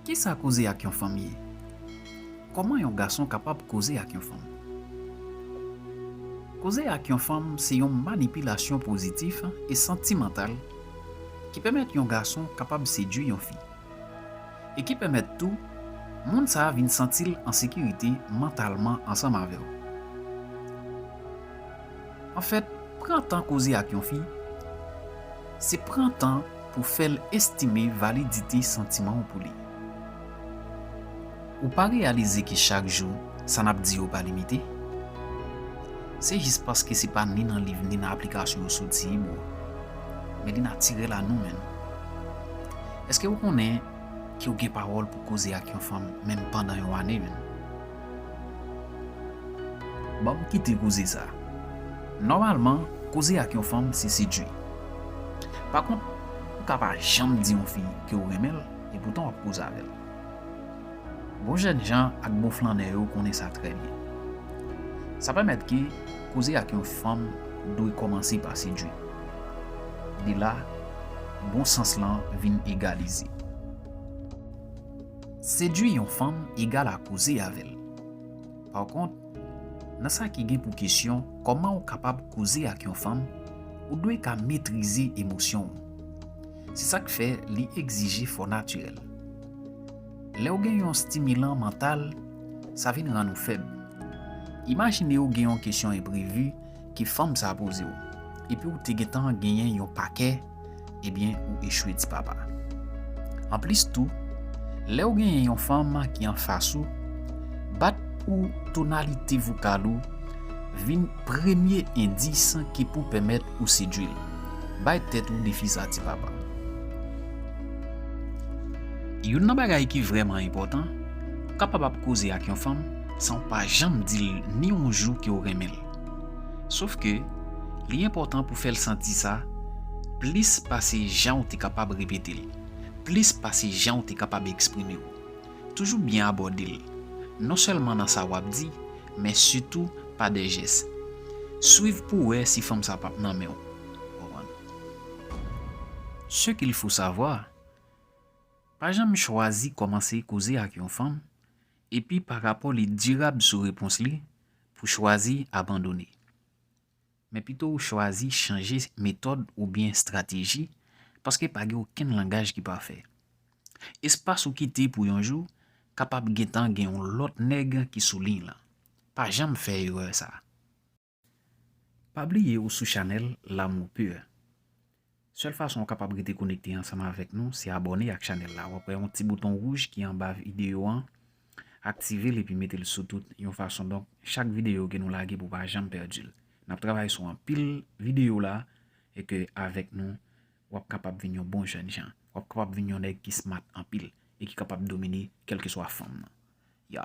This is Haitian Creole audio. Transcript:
Kisa koze ak yon fanm ye? Kòman yon gason kapab koze ak yon fanm? Koze ak yon fanm se yon manipilasyon pozitif e santimantal ki pèmèt yon gason kapab sedui yon fi, e ki pèmèt tou moun sa vin santi l an sekirite mantalman ansanm avè w. Anfèt, pran tan koze ak yon fi, se pran tan pou fè l estime validite santiman w pou li. Ou pa reyalize ke chak jou, sa n ap di yo pa limite? Se jis paske se pa ni nan liv ni nan aplikasyon yo soti, bro. Men li natirèl a nou menn. Eske ou konnen ke ou gen pawòl pou koze ak yon fanm menm pandan yon ane menn? Banm kite koze sa. Nòmalman, koze ak yon fanm se sedwi. Pa kont, ou ka pa janm di yon fi ke ou renmen l e poutan w ap koze avè l. Bon jènjan ak bon flannè yo konnen sa trè byen. Sa pèmèt ke koze ak yon fanm dwe kòmanse pa sedwi. De la, bon sans lan vin egalize. Sedui yon fanm egal a koze avè l. Pakont, nan sa ki gen pou kesyon kòman ou kapab koze ak yon fanm, ou dwe ka metrize emosyon ou. Se sa k fè li egzije fò natirèl. Lè ou gen yon stimilan mantal, sa vin rann ou fèb. Imajine ou gen yon kesyon enprevi Ke fanm sa poze w. Epi w te gentan genyen yon pakè ebyen ou echwe ti papa. Anplis tou, lè w genyen yon fanm ki anfas ou, bat ou tonalite vokal ou vin premye endis ki pou pèmèt ou sedui l. Bay tèt ou defi sa ti papa. Youn nan bagay ki vrèman enpòtan, ou kapab ap koze ak yon fanm san w pa janm di l ni yon jou ke w renmen l. Sof ke, li enpòtan pou fè l santi sa, plis pase jan ou te kapab repete l, plis pase jan ou te kapab eksprime w. Toujou byen abòde l, non sèlman nan sa w ap di, men sitou pa de jès. Swiv pou wè si fanm sa p ap nan men w. Ce qu'il faut savoir, Pa janm chwazi kòmanse koze ak yon fanm Epi pa rapò li dirab sou repons li pou chwazi abandone. Men pito ou chwazi chanje metòd oubyen estrateji paske pa gen okenn langaj ki pafè. Espas ou kite pou yon jou kapab gentan gen yon lòt nèg ki sou liy lan. Pa janm fè erè sa. Pa bliye ou sou chanèl L'amour pur. Sèl fason ou kapab rete konekte ansanm avèk nou se abòne ak chanèl la. Wap wè yon ti bouton wouj ki anba videyo an, aktivel epi metel sou tout yon fason donk chak videyo ke nou lage pou pa janm pèdil. Nap travay sou anpil videyo la e ke avèk nou wap kapab vin yon bon jènjan. Wap kapab vin yon nèg ki smart anpil e ki kapab domine kèlkeswa fòm nan. Ya!